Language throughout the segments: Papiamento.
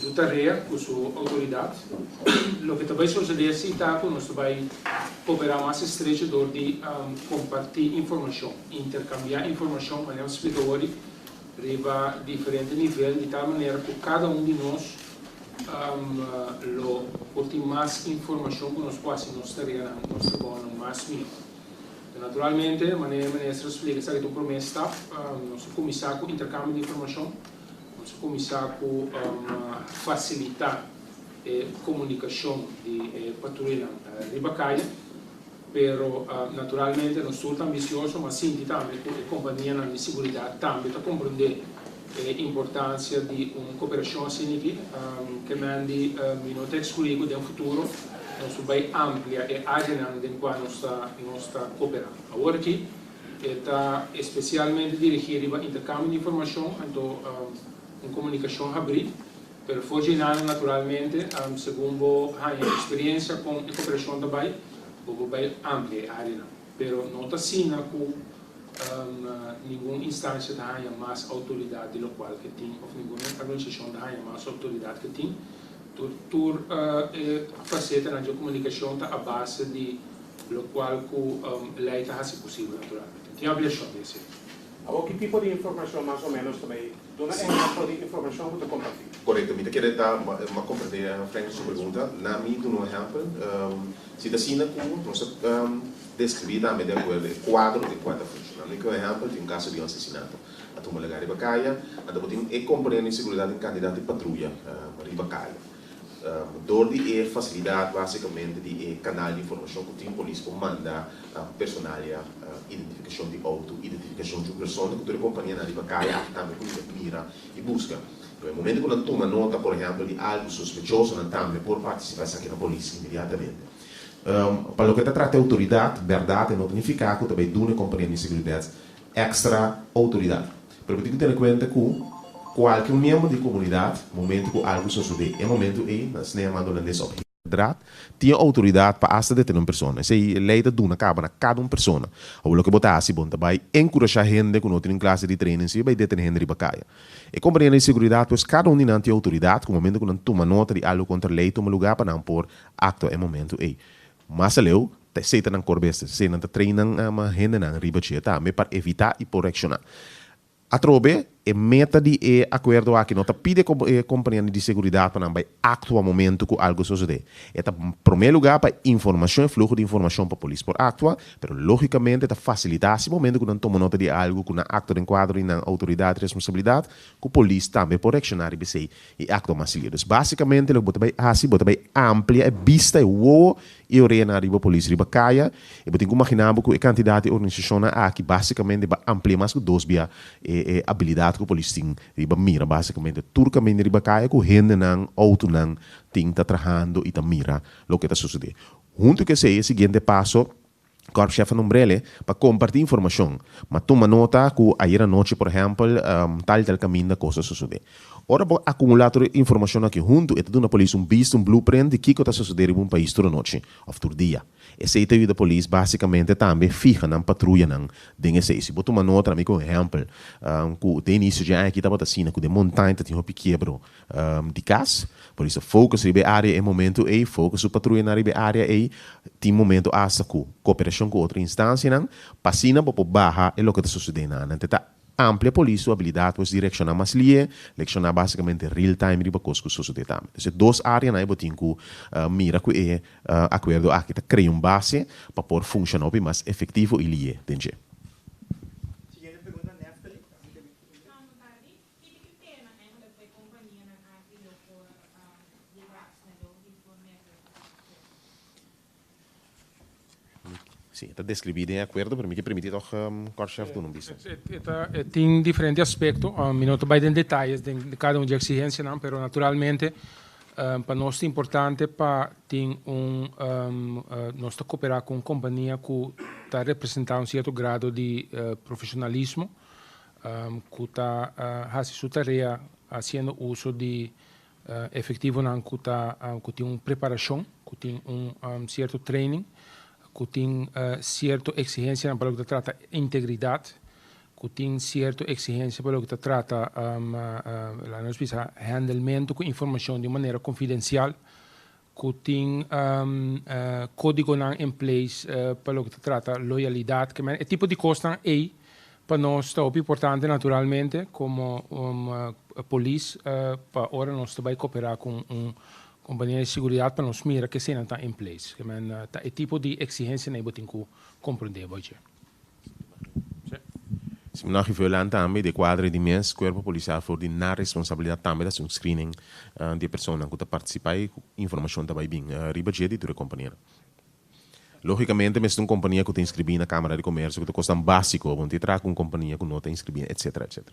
Su tarea cu su autoridad. Loke ta bay sucede aci ta cu nos ta bay coopera mas estrecho door di comparti informacion, intercambia informacion, manera nos splica awor, riba diferente nivel di tal manera cu cada un di nos lo por tin mas informacion cu nos por haci nos tareanan, nos trabahonan mas miho. Ta naturalmente, manera e Minister a splica esaki ta un prome stap, nos ta cuminsa cu intercambio di informacion, Nos a kuminsá ku fasilitá e komunikashon di e patruyanan riba kaya, pero naturalmente nos tur ta ambisioso, m'a sinti tambe ku e kompanianan di seguridat tambe ta komprendé e importansia di un koperashon asin'iki. Ke men di mi no ta eksklui ku den futuro nos bai amplia e áreanan den kua nos ta koperá. Awor aki E ta especialmente dirigi riba intercambio di informacion, anto un comunicacion habri, pero for dje nan naturalmente segun bo haña experiencia con e cooperacion ta bay, bo por bay amplia e areanan. Pero no ta asina cu ningun instancia ta haña mas autoridad di locual ke tin of ningun organisacion ta haña mas autoridad ke tin, Tur e faseta nan dje komunikashon ta a base di lokual ku lei ta hasi posibel naturalmente. Tin abliashon di hasi akí. Awor ki tipo di informashon mas o ménos ta bai? Duna ehèmpel di informashon ku ta kompartí. Korekto, mi ta kere ta mas komprendé Franklin su pregunta. Na mi duna un ehèmpel, si ta asina ku nos ta deskribí tambe de akuerdo e kuadro den kua ta funshona. Ami ta da un ehèmpel di un kaso di un asesinato. A tuma lenga riba kaya. Anta bo tin e komponent di seguridat den kantidat di patruya riba kaya. Dor di e fasilidat, basikamente di e kanal di informashon ku tin, polis por manda personalia, identifikashon di outo, identifikashon di un persona ku tur e kompanianan riba kaya aki tambe por yega mira i buska. E momento ku nan tuma nota, por ehèmpel, di algu sospechoso, nan tambe por partisipá esaki na polis inmediatamente. Pa loke ta trata e outoridat, bèrdat e nota nifiká ku ta bai duna e komponiente di seguridat extra autoridad. Pero bo tin cu tene cuenta cu cualkier miembro di comunidad, momento cu algo sosode, e momento ey nan snea mando holandés op he. Draad, tin autoridad pa hasta detene un persona. Esey ley ta duna cabo na cada un persona. Awor loke bo ta haci, bon ta bay encurasha hende cu no tin nin clase di training si e bay detene hende riba caya. E compañia di seguridad pues cada un di nan tin autoridad cu momento cu nan tuma nota di algo contra ley tuma lugar pa nan por actua e momento ey. Mas aleu, ta esei ta nan kor bes, ta esei nan ta train nan hendenan riba dje tambe pa evitá i por reakshoná. Atrobe, e meta di e akuerdo aki no ta pide ku e kompanianan di seguridat pa nan bai aktua momentu ku algu sosodé. E ta promé lugá pa informashon, e fluho di informashon pa polis por aktua, pero lógikamente e ta fasilitá así momentu ku nan tuma nota di algu ku na aktua den kuadro di nan outoridat i responsabilidat, ku polis tambe por reakshoná riba esei. E akto mas liu. Dus básikamente loke bo ta bai hasi, bo ta bai amplia e bista, e wowo i e orenan riba polis riba kaya. I bo tin ku imaginá bo ku e kantidad di organisashonnan aki básikamente a amplia mas ku dos bia e e abilidad ku polis tin riba mira básikamente tur kaminda riba kaya ku hendenan, outonan tin ta trahando i ta mira loke ta sosodé. Huntu ku esei e siguiente paso Kòrpshèf a numbr'el'e pa kompartí informashon, ma tuma nota ku ayera anochi, por ehèmpel, tal i tal kaminda kos a sosodé. Ora bo akumulá tur e informashon aki huntu, e ta duna polis un bista, un blueprint, di kiko ta sosodé riba un pais tur anochi òf tur dia. Esei ta yuda polis básikamente tambe fiha nan patruyanan den esei. Si bo tuma nota, na mi kon ehèmpel, ku den inisio dje aña aki tabata asina, ku den montaña ta tin hopi kiebro, di kas. Por iso focus riba e área e momentu ei, focus su patruyanan riba e área ei tin momentu asta ku kooperashon ku otro instansianan pa asina bo por baha e loke ta susedé na nan. Te ta amplia polis su abilidat pues di reakshoná mas lihe, reakshoná basikamente real time riba kos ku susedé tambe. Entonces e dos áreanan ei bo tin ku mira ku e akuerdo aki ta krea un base pa por funshoná hopi mas efektivo i lihe den dje. Kiko ta pena eigenlijk pa e kompanianan aki lo por yega asina lo y por nega e konsesjon? Sí, e ta describí den e acuerdo, pero mi ke permití tòg Kortchef duna un bista. E tin diferente aspecto, mi no ta bai den detalles den di cada un dje exigencianan, pero naturalmente pa nos ta importante pa tin un nos ta cooperá cu un compania cu ta representá un cierto grado di profesionalismo, ku ta hasi su tarea hasiendo uso di efektivonan ku ta ku tin un preparashon, ku tin un sierto training, ku tin sierto eksigensianan pa loke ta trata integridat, ku tin sierto eksigensia pa loke ta trata laat nos bisa hèndelmentu ku informashon di un manera konfidensial. ku tin kódigonan en place pa loke ta trata loyalidat ke men. E tipo di kosnan ei pa nos ta hopi importante naturalmente komo polis pa ora nos ta bai koperá ku un kompania di seguridat pa nos mira ke eseinan ta en place. Ke men ta e tipo di eksigensianan ei bo tin ku komprondé bo dje. Siminor Achi Veulein tambe di e kuadro di mes Kuerpo Polisial for di nan responsabilidat tambe ta hasi un screening di e personan ku ta partisipá i ku informashon ta bai bin riba dje di tur e kompania. Lógikamente mester un kompania ku ta inskribí na Kámara di Komersio ku ta kosnan básiko bo no tin traha ku un kompania ku no ta inskribí etsetera etsetera.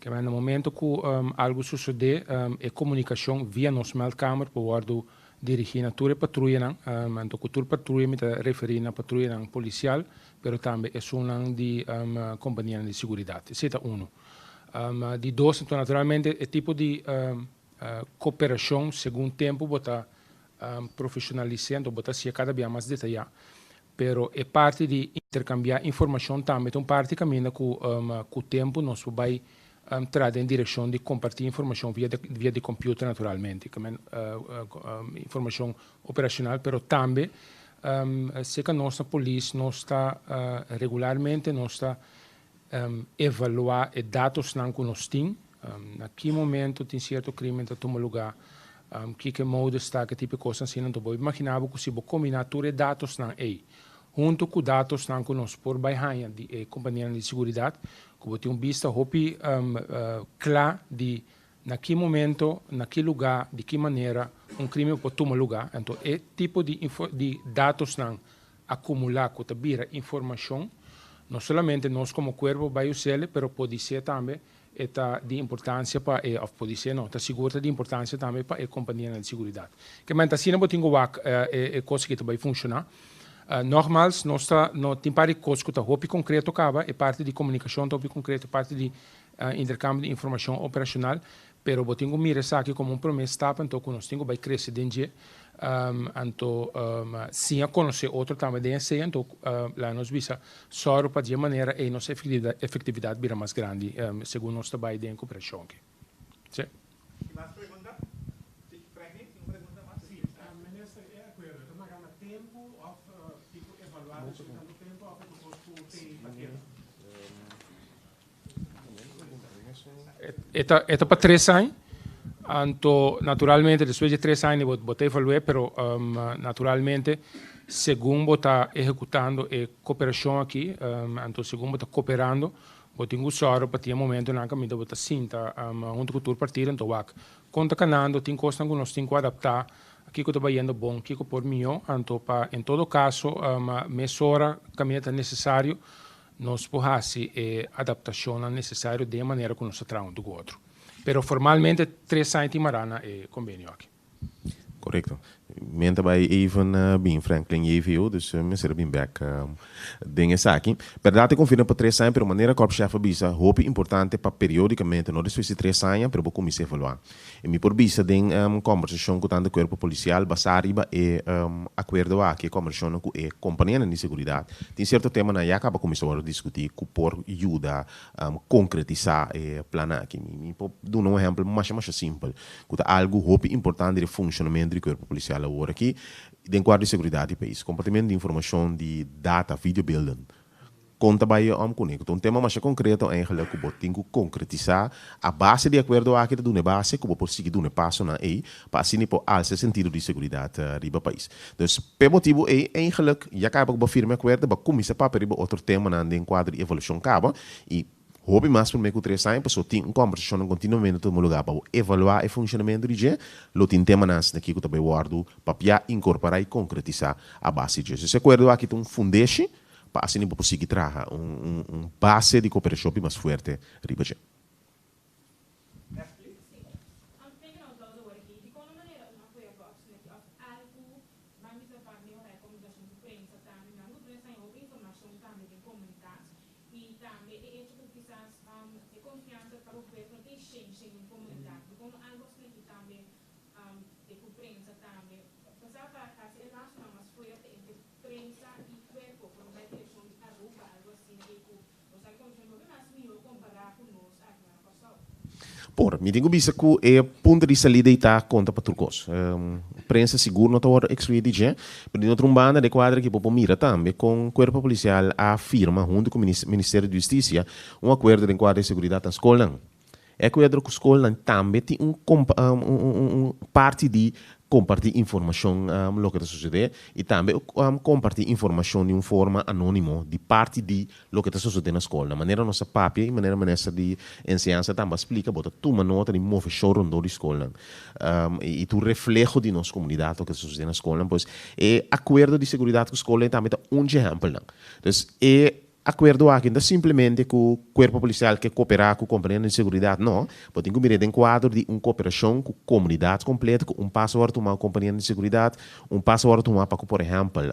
Kieman na momento ku algu susodé e komunikashon via nos meldkamer por wòrdu dirigí na tur e patruyanan, anto ku tur patruya mi ta referí na patruyanan polisial pero tambe esunnan di kompanianan di seguridat. Esei ta unu. Di dos anto naturalmente e tipo di koperashon segun tempu bo ta profeshonalis'é anto bo ta hasié kada bia mas detayá Pero e parti di interkambiá informashon tambe ta un parti kaminda ku ku tempu nos por bai trada den direkshon di kompartí informashon via via di kompiuter naturalmente informashon operashonal pero tambe seka nos ta polis nos ta regularmente nos ta evaluá e datosnan ku nos tin, na ki momentu tin sierto krímen ta tuma lugá, kiko e modus ta, ke tipo e kosnan asina nan ta obi. Bo imaginá bo ku si bo kombiná tur e datosnan ei huntu ku datosnan ku nos por bai haña di e kompanianan di siguridat, ku bo tin un bista hopi kla di na ki momento, na ki lugá, di ki manera un krímen a por tuma lugá. Anto e tipo di datosnan akumulá ku ta bira informashon, no solamente nos komo kuerpo bai us'el, pero podisé tambe e ta di importansia pa e, òf podisé no, ta sigur ta di importansia tambe pa e kompanianan di siguridat. Kèmente asina bo tin ku wak e kos aki ta bai funshoná. Nògmals, nos ta no tin par di kos ku ta hopi konkreto kaba, e parti di komunikashon ta hopi konkreto, e parti di interkambio di informashon operashonal, Pero bo tin cu mira esaki como un prome stap, anto cu nos tin cu bay crece den dje. Anto, sin a conoce otro tambe den esey, anto laga nos bisa sor pa dje manera ey nos efectividad bira mas grandi segun nos ta bay den cooperacion aki. Sey. Tin mas pregunta? Si, Franklin tin un pregunta mas? Si, minister e acuerdo ta mara na tempo of tin cu evalua despues di tanto tempo of e propos cu tin pa keda? E ta e ta pa tres aña, anto naturalmente despues di e tres aña bo bo ta evalu'é pero naturalmente segun bo ta ehekutando e koperashon aki anto segun bo ta koperando bo tin ku sòru pa tin e momentunan kaminda bo ta sinta huntu ku tur partido anto wak kon ta kanando tin kosnan ku nos tin ku adaptá kiko ta bayendo bon kiko por mihó anto pa en todo kaso mesora kaminda ta nesesario Nos por hasi e adaptashonnan nesesario den e manera ku nos ta traha unu ku otro. Pero formalmente tres aña tin mará na e kombenio aki. Korekto. Men ta bai even bin Franklin JVO, dus mester a bin bek den esaki. Bèrdat e konfirma pa tres aña, pero manera kòrpshèf a bisa, hopi importante pa periodikamente, no despues di tres aña, pero bo kuminsá evaluá. E mi por bisa den e kòmbersashon ku tantu kuerpo polisial basá riba e akuerdo aki, e kòmbersashonnan ku e kompanianan di seguridat, tin sierto temanan a ya kaba kuminsá wòrdu diskutí ku por yuda konkretisá e plannan aki. Mi mi por duna un ehèmpel masha masha simpel ku ta algu hopi importante di e funshonamentu di kuerpo polisial awor aki den kuadro di seguridat di e pais, kompartimentu di informashon di data, videobeelden. Kon ta bai e om kuné? Ku ta un tema masha konkreto eingelik ku bo tin ku konkretisá. A base di e akuerdo aki ta duna e base ku bo por sigui duna e pasonan ei pa asina i por alsa e sentido di seguridat riba pais. Entonces, p'e motibu ei eingelik ya kaba ku bo firma e akuerdo bo a kuminsa papia riba otro temanan den kuadro di e evaluashon kaba i hopi mas promé ku tres aña pasobra tin un kombersashonnan kontinuamente tuma lugá pa bo evaluá e funshonamentu di dje. Lo tin temanan asina aki ku ta bai wòrdu papiá, inkorporá i konkretisá a base di dje. Entonces, e akuerdo aki ta un fundeshi Pa asina bo por sigui traha un base di cooperashon pi mas fuerte riba dje. ku prensa tambe. Pasá pa hasi e lasonan mas fuerte entre prensa i kuerpo por un bai direkshon di Aruba, algu asina ke ku nos a konsumí. Por ke mas mihó kompará ku nos aki nan na Kòrsou? Por, mi tin ku bisa ku e punto di salida ei ta konta pa tur kos. Prensa sigur no ta wòrdu ekskluí di dje, pero di otro un banda e kuadra aki bo por mira tambe kon kuerpo polisial a firma huntu ku Ministerio di Hustisia un akuerdo den kuadra di seguridat na skolnan. E kuadro ku skolnan tambe tin un parti di kompartí informashon loke ta sosodé i tambe kompartí informashon di un forma anónimo di parti di loke ta sosodé na skol na manera nos a papia i manera minister di enseñansa tambe a splika bo ta tuma nota di moveshon rondó di skolnan i tur refleho di nos komunidat loke ta sosodé na skolnan pues e akuerdo di seguridat ku skolnan tambe ta un dje ehèmpelnan. Akuerdo aki no ta simplemente ku Kuerpo Polisial ke kooperá ku kompanianan di seguridat. No. Bo tin ku mira e den kuadro di un kooperashon ku komunidat kompleto, ku un paso wòrdu tumá ku kompanianan di seguridat, un paso wòrdu tumá pa ku por ehèmpel,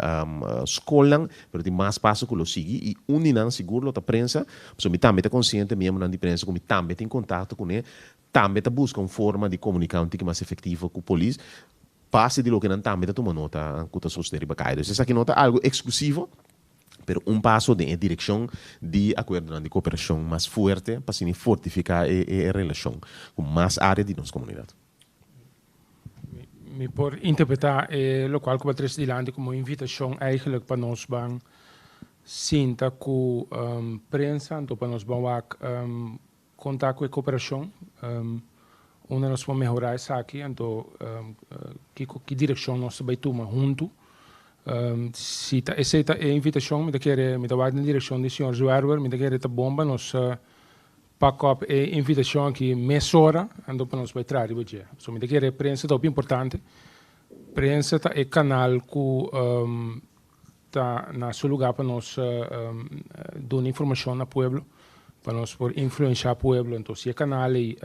skolnan, pero tin mas paso ku lo sigui i un di nan sigur lo ta prensa, pasobra mi tambe ta konsiente miembronan di prensa ku mi tambe tin kontakto kuné tambe ta buska un forma di komuniká un tiki mas efektivo ku polis base di loke nan tambe ta tuma nota ku ta sosodé riba kai. Entonces esaki no ta algu eksklusivo. pero un paso den e direkshon di akuerdonan di kooperashon mas fuerte pa siña fortifiká e relashon ku mas área di nos komunidat. Mi por interpretá e lokual ku bo a trese dilanti komo un invitashon eigelik pa nos ban sinta ku prensa anto pa nos ban wak Con ta cu e cooperacion unda nos por mehora esaki anto kico ki direccion nos ta bay tuma hunto. Si ta esey ta e invitacion mi ta kere mi ta wak den direccion di señor Zwerver mi ta kere ta bon pa nos pak op e invitacion aki mesora anto pa nos bay traha riba dje. So mi ta kere prensa ta hopi importante. Prensa ta e canal cu. Ta na su lugá pa nos duna informashon na pueblo, pa nos por influenshá pueblo. Anto si e kanal ei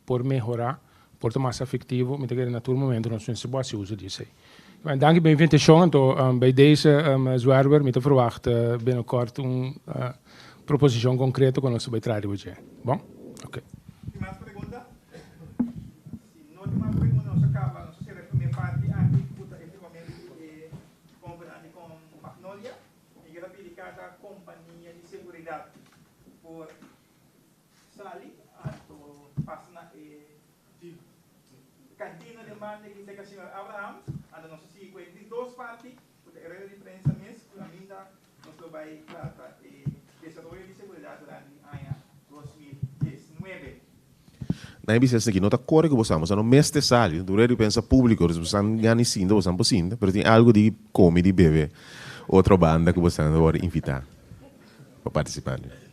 por mehorá, por ta mas efektivo, mi ta kere na tur momentu nos mester por hasi uso di esei. Bueno, danki pa e invitashon. Anto bai dese, Zwerver, mi ta verwachta binokòrt un proposishon konkreto ku nos ta bai traha riba dje. Bon? Oke. Tin mas pregunta? Si no tin mas pregunta, nos a kaba, nos a sera e primé parti anti ku ta efektivamente e. Companandi con Magnolia, mi quiero pidi cada compania di seguridad por sali anto pasa na e jeep. Cantina den banda aquí cerca Señor Abraham, anto nos a sigui cuenta di dos parti, cu ta e rueda di prensa mes, cu ta aminta Nos lo bai trata e desaroyo di seguridat ra den aña dos mil diesnuebe. Na e bisnes aki no ta kore ku bo sa, bo sa no mester sali. Tur e dipensa públiko dus bo sa ngani sinta bo sa por sinta, pero tin algu di kome, di bebe otro banda ku bo sa wòrdu invitá pa partisipá.